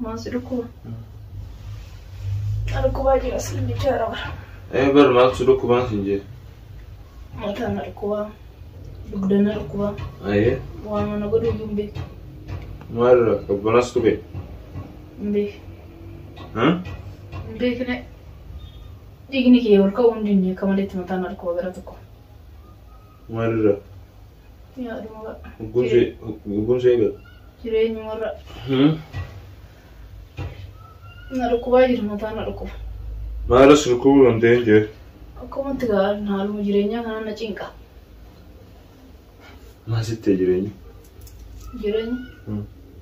Maal si dhukkuba? Na dhukkubaa jira si jechaa raba. Ee bar maal si dhukkubaan siin jee. Mataa na dhukkubaa. Dugda na dhukkubaa. Ayee Waan mana godhu iyyuu hin beeku. maal irraa qabbanas tube. Hin beeku. Hin beekne. Dhiigni kee ol ka'uu hin dinne akka maleetti mataa na dhukkuba gara tokko. Maal irraa? Lubbuun see eegale. Jireenyumarra na dhukkubaa jira mataa na dhukkuba. Maala surkuu dandeen jee. Akkumatti gaa'al haaluma jireenyaa kana na cinqa. Maal sittee jireenyi? Jireenyi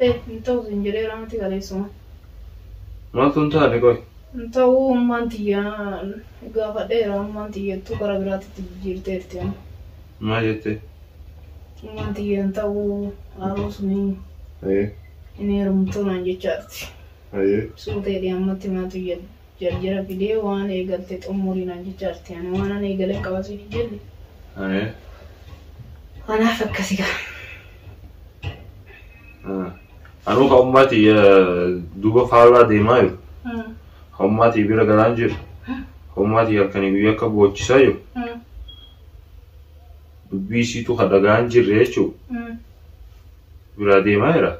Ee, hin ta'u sin jedheera miti kaleessuma. Maaltu hin taane qoy? Hin ta'u ummaan tiyya gaafadheera ummaan tiyyattuu gara biraatitti jijjiirteerti amma. Maal jettee? Ummaan tiyya hin ta'u haaroo suni Ee, hin heerumtuu naan jechaarti. ee. Suutee dhiyaammatti maatu jedhu. Jarjara fidee waan eegalte xummurii naan jecha jirti. Ani waan an eegalen qaba siin hin jenne. Ayee. Anaaf akkasi gaa. Ah. Anuu ka ummaati duuba faallaa deemaa jiru. Ka ummaati bira galaan jiru. Ka ummaati halkanii guyyaa akka boochisaa jiru. Dubbii isiitu ka dhagaan jirre jechuudha. Biraa deemaa jira.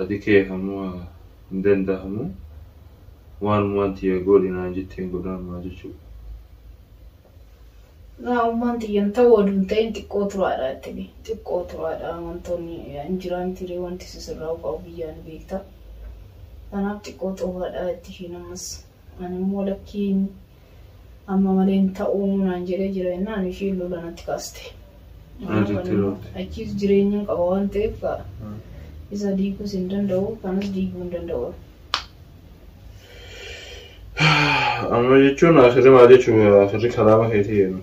Ati kee hamma hin dandahamu waanumaan tiyya goodhi naan jetteen godhaan maa jechuu. Waanummaan tiyya hin ta'u oduu hin ta'in xiqqoo turaadha jetteni xiqqoo turaadha wantoonni hin jiraa mitiiree wanti sisirraa ufaa'u biyyaa ni beekta. Kanaaf xiqqoo turaadha jetti ishiin ammas ani immoo lakkiin Amma malee hin ta'uu naan jedhee jira jennaan ishiin lola natti kaaste. Maalitti loolte? Achiis jireenya hin qaba waan ta'eef kaa isa diiguus hin danda'u kanas diiguu hin danda'u. Amma jechuun asirri maal jechuudha? Asirri kalaama keetii jennu.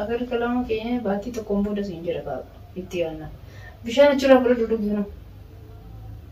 Agar kalaama keenya baatii tokkoon booda siin jedha kaa itti aanna. Bishaan achirraa fudhadhu dhugi kunoo.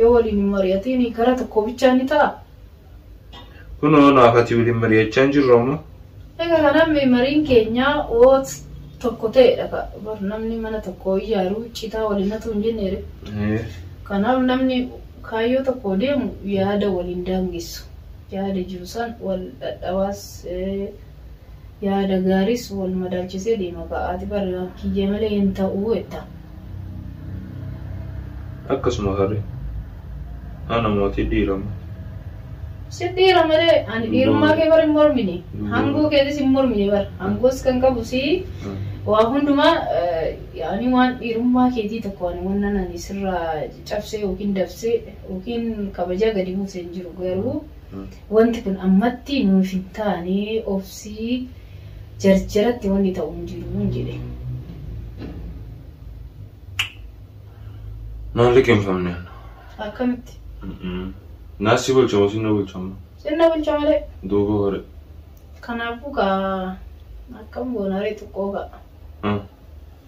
Yoo waliin hin mari'atiin karaa tokko bichaa ni ta'a. Kunoo naaf ati waliin mari'achaa hin jirru amma. Egaa kanaan mariin keenyaa oot tokko ta'edha ka bar namni mana tokko iyyaaruu citaa waliin hatu hin jenneere. Kanaaf namni kaayyoo tokko deemu yaada waliin daangessu. Yaada jiru san wal dhadhabaas Yaada gaariis wal madaalchisee deema kaa ati bar kiyya malee hin ta'u jetta. Akkasuma haree. Ana mootii dhiira moo. Sin dhiira malee ani dhiirummaa kee bar hin mormine hangoo keetis hin mormine bar hangoos kan qabu si waa hundumaa yaani waan dhiirummaa keetii tokko ani wannan ani sirraa cabsee yookiin dabsee yookiin kabajaa gadi buuse hin jiru garuu Wanti kun ammatti nuuf hin taane obsii jarjaratti wanni ta'u hin jiru jedhe. Naan liqimfamne. Akkamitti? Naa si bulchama si na bulchama. Sinna bulcha malee. Duuba hore. Kanaafuu kaa akkam goonaree xiqqoo ga'a.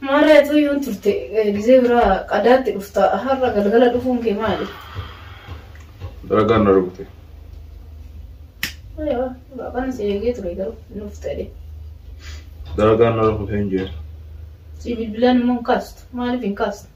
Maarree atuu yoon turte gizee biraa qadaatti dhufta har'a galgala dhufuun kee maali? Dalagaan na rukute. Aywa baabaan si eegee ture garuu hin dhufte jedhe. Dalagaan na rukute hin jee. Si bilbilaan immoo hin kaastu maaliif hin kaastu?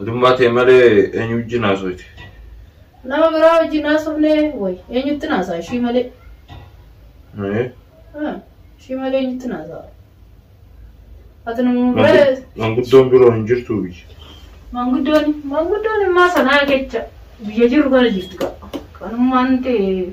Atummaa tee malee eenyu wajjin haasoyte? Nama biraa wajjin haasofne wayi eenyutti naasaa ishii malee. Ee, Ah, Ishii malee eenyutti naasaa? Ati nama mangu- biraa Manguddoon biroo hin jirtuu biyya. manguddoon manguddoon immaa sanaa kecha biyya jiru kana jirti qaba. Kanummaan ta'e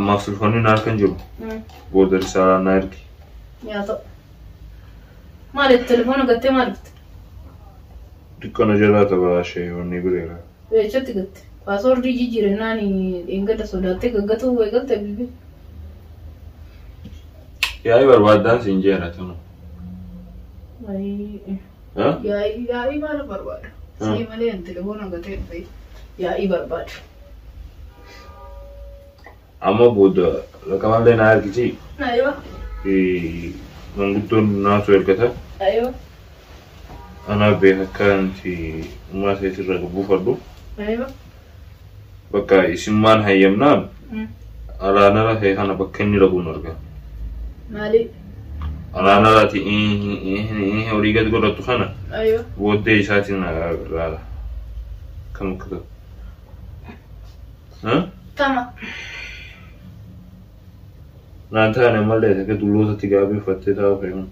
Ammaaf sulfanni na harka hin jiru. Mm. Booda risaalaa na ergi. Yaa ta'u. Maaliif telefoona gattee maal dhufte? Dukkana jalaa tabaraashee wanni bireera. Weechatti gatte. Paasoordii jijjiirannaan dheengadda sodaattee gaggatuu eegalte bilbila. Yaa'ii barbaaddaan siin jeera tunu. Wayii. Ha? Yaa'ii yaa'ii maal barbaadu? Mm. Sii malee ani telefoona gatee dhufe. Yaa'ii barbaadu. Amma booda raqamallee naa ergiti. Aywa. Manguddoon naatu ergata. Aywa. Anaa beeka akkanti ummaa seetirra buufadhu. Aywa. Bakka isimmaan hayyamnaan alaanara kee kana bakka inni dhaquun arga. Maali? Alaanaraati horii gad godhattu kana Aywa. booddee isaatiin laala. Kam akka ta'u. Ha? Tama. Naan taane malee akka dullootatti gaabii uffattee taa'u fe'uun.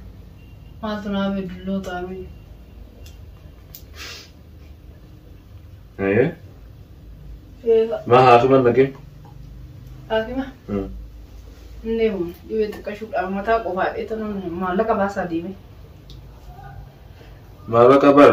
Maaltu naa bee dulloo taa'u. Ayee. Eega. Maa haasuman naqin. Haakima. Hmm. Hin deemu. Dhibee xiqqashuudhaan mataa qofaa dheetan maallaqa baasaa deeme. Maallaqa bar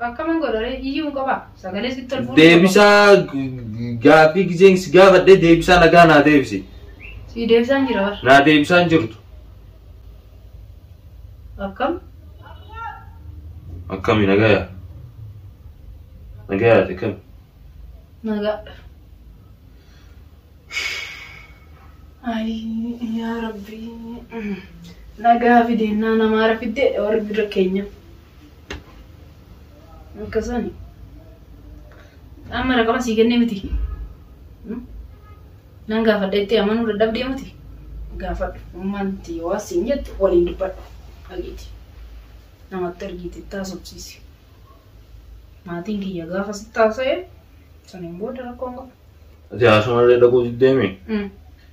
Akkaman godha ree iyyuun qaba sagalee sitti ol fuudhuu qaba. Deebisaa gaaffii gizeen si gaafadhe deebisaa nagaa naa deebisi. Sii deebisaan jira bar. Naa deebisaan jirtu. Akkam? Akkami nagaya? Nagaya ati akkami? Nagaa. Ayii yaa rabbii. Nagaa fideennaa namaara fiddeedha warri bira keenya. Akkasani. Amma raqama sii kennee miti. Nan gaafadha itti amanuu dadhabdee miti. Gaafadhu. Ummaan itti yoo asiin jettu waliin dubbadhu. Dhageeti. Namatti ergiiti itti haasofsiisi. Maatiin kiyya gaafa sitti haasa'e saniin booda rakkoon qabu. Ati haasuma illee dhaquu diddeemi.